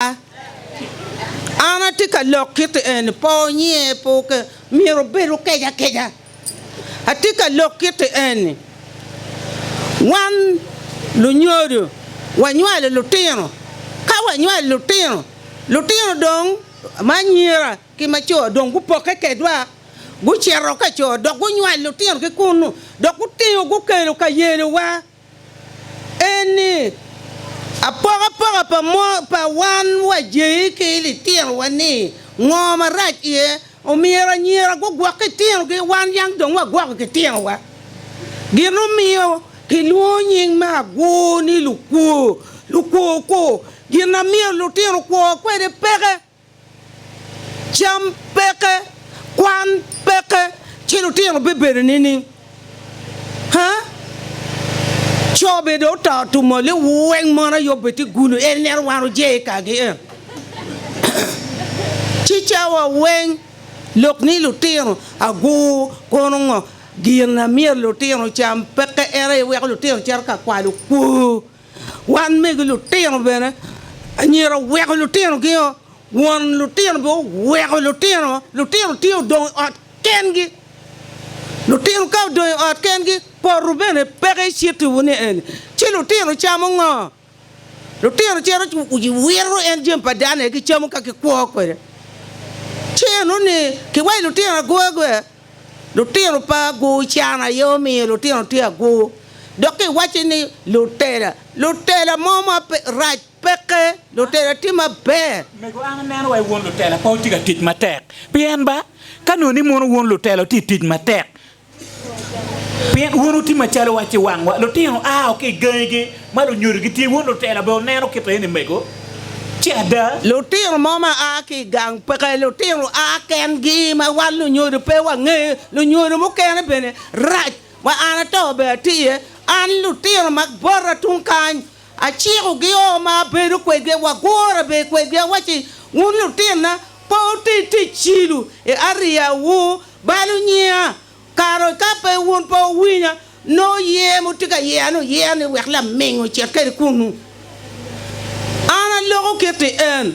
An atye ka lok kiti eni, po nyiye po ke, myero bed okej akeja. Atye ka lok kiti eni, wan lunyodo wanywalo lutino, ka wanywalo lutino, lutino dong ma anyira ki ma co dong gupokke kedwa, gucito ka co dok gunywalo lutino ki kunnu dok gutingo gukelo ka yelowa. en ni, Apokapoka pa pa wan wa jei ki i litinowa ni ngo marac iye, omyero anyira gugwok ki tinogi wan yang dong wagwoko ki tinowa. Gin omiyo kilwongo nying me agwur ni lukwo, lukwo kwo, gin na myero lutino okwo kwede peke. Cam peke, kwan peke, ci lutino bibedo nining? Haa? Co bene dong oto tumo li weng mon aye obedde gulu en neno wan oje i kagi eno. Ci cawa weng lok ni lutino agur kono ngo? Gin na myero lutino ocam peke en aye weko lutino cito ka kwalo kwor. Wan megi lutino bene, anyira oweko lutinogi-o, won lutino bene oweko lutino. Lutino tye odong i ot kengi. Lutino ka odong i ot kengi, poto bene peke icittiwu ni eni. Ci lutino camo ngo? Lutino cito ci wiro en jami pa dano aye gicamo ka gikwo kwede. Ci enoni kiwaco lutino aguragura. Lutino pa agwur can aye omiyo lutino tye agwur. Dok ka iwacci ni, Lutela, lutela mo ma rac peke, lutela tye maber. Mego an aneno wai won lutela pe otye ka tic matek. Pien ba, ka nongo ni mono won lutela otye ka tic matek, pien won otye macalo wa ci wangwa, lutino ao ki i gangigi, Ma lunyodo gitye wun lutela bene wuneno kit eni mego, ci ada. Lutino mo ma a ki i gang peke lutino a kengi ma wan lunyodo pe wangeyo, lunyodo mukene bene rac. Ma an ato bene atye iye, an lutino ma bota tung kany acikogi o ma abedo kwedgi, wagure bene kwedgi. Awacci, Wun lutinna, pe wuti tic cilo i ariyawu balo nyiya, Kare ka pe wun pe wuwinya, nongo yer ma wutye ka yerani wuyer ni wek laming ocit kwede kunnu. An aloko kitti en,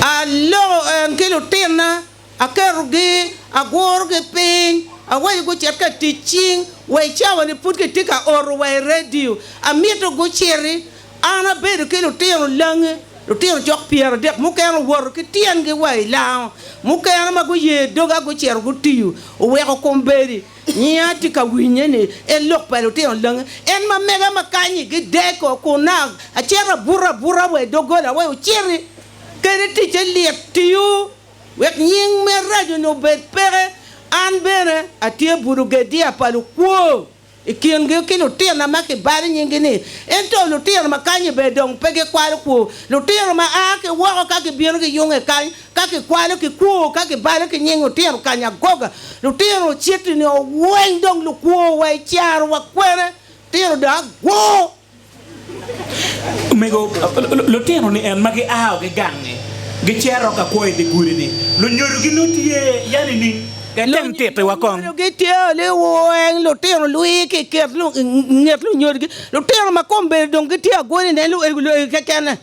aloko en ki lutinna, aketogi, agurogi piny, awaco gucit ka tic cing wa i cawa-ni pud kitye ka oto wa i redio. Amito guciti. An abedo ki lutino lange, lutino cok pyeradek, mukene owoto ki tyengi wa i lango, mukene ma guye doga gucito gutiyo, oweko kombeddi. Nyiya tye ka winye ni en lok pa lutino lange. En ma mega ma kany-nyi gideko kunna, acito abuto abuta wa i doggola wek ociti. Kadi ticce lit, tiyo wek nying me rajo-ni obed peke. An bene atye buto gediya pa lukwo. i kingi ki lutina ma kibalo nyingi-ni, ento lutina ma kany-nyi ber dong pe gikwalo kwo. Lutina ma a ki woko ka gibino giyunge kany, ka kikwalo ki kwo, ka kibalo ki nying otino kany agoga. Lutino ociti nio weng dong lukwo wa i caro wa kwene, tino dong agwo. Omego lutino ni en ma giao ki gangngi gicito ka kwo idye gudi-ni, lunyodo gi nongo tye ya nining? Item tittiwa kong. Lunyodo gi tye liweng lutino lwii ki nget lunyodgi. Lutino ma kombeddi dong gitye agweli nen luegi luegi kekene.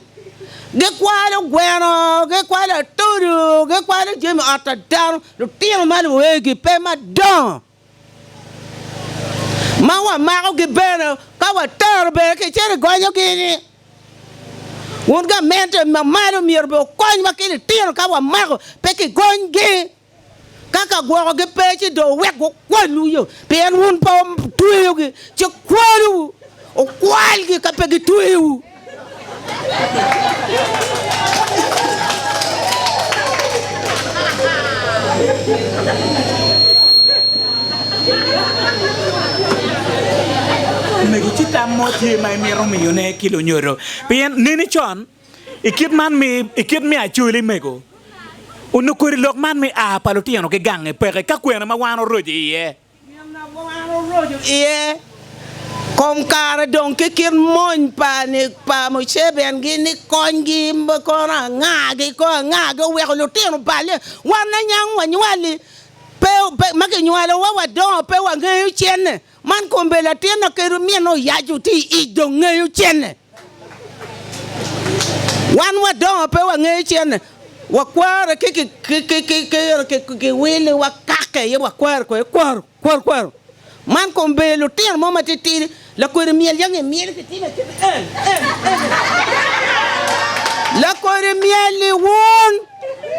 Gikwalo gweno, gikwalo atudu, gikwalo jami ot a dano. Lutino ma luegi pe madongo. ma wamakogi bene ka watero bene kicito gonyogi ni wun gamente mamalo myero bene wukonywa ki litino ka wamako pe kigonyogi ka ka gwokogi pe ci dong wuwek gukwalwu yo pien wun pe wutweyogi ci kwalwu wukwalgi ka pe gitweyowu. Omego ci tam mo tye ma imito miyo ne ki lunyodo pien neni con i kit man mi i kit me acoli mego onongo kodi lok man me aa pa lutino ki gange peke ka kwena ma wan oroco iye. Ginna kong an oroco iye. Kom kare dong ki kit mony pa ni pa Museveni gi ni kony gi me kono anga gi koo anga gi oweko lutino balle wan lanyang wanywali pe pe ma kinywalo wa wadongo pe wangeyo cene man kombe latin na keri mine oyaco ti ic dong ngeyo cene. Wan wadongo pe wangeyo cen wakwaro ki kiwil wakake aye wakwaro kwede kwaro kwaro kwaro man kong ber lutino mo matitidi lakodi myel yange imyel kitime acel en en en lakodi myel iwun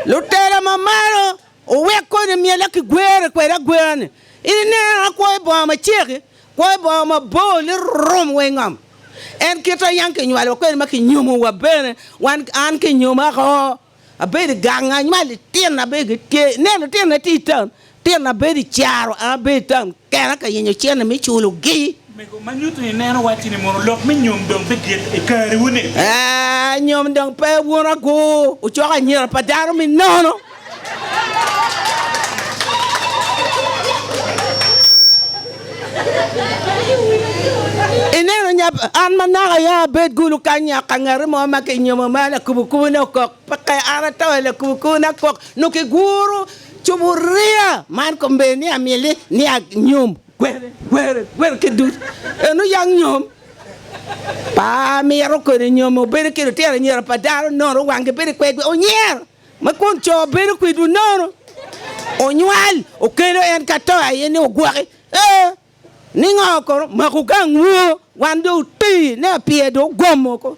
lutera mamalo Wuwek koni myela ki gwere kwede agwera ni, 'Ineno, akwoyo bonga macek-ki, kwoyo bonga mabor lirom wa i ngom. En kit ma yam kinywalowa kwede ma kinyomowa bene, wan an kinyomako, abedo i gang, anywalo litino, abedo ki tye, nen, litinona tye i taun, litinona bedo i caro, an abedo i taun kena ka yenyo cente me culogi. Omego, ma nyuto ni ineno wacci ni mono lok me nyom dong pe gik i kariwu-ni? Ee, nyom dong pe wun agu wucoko anyira pa dano me nono. Ineno nya, an manaka aye abed gulu kany nya ka ngati mo ma kinyomo ma lakubukubune okok, peke an ato i lakubukubuna akok, nongo kiguro cuburiya man kombeddi ni amyel ni, ni anyom. Kwere, kwere, kwere kit ducu. En oyang nyom pa amiro kodi nyom obedo ki lutino anyira pa dano nono wangi bedo kwedgi onyer ma kun co bedo kwedwu nono onywal okelo en ka to aye ni ogwoki ee ningo kono maku gangwu wan do otii ne apyer do ogomo ko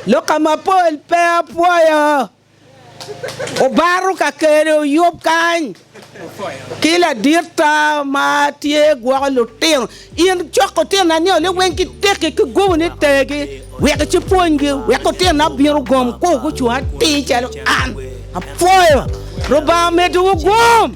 lok ka mapol pe apwoyo Obaro kakele oyub kany ki laditta ma tye gwoko lutino. In cok otino anio ni weng ki tekki ki gubu ni tegi wek ci pwonygi wek otino na bino gom ku gucung atir calo an. Apwoyo. Lubanga medo wu gum.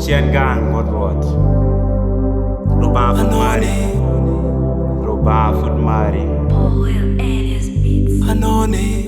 Cen gang bot Rwot Lubanga pud mari, Lubanga pud mari. Anone.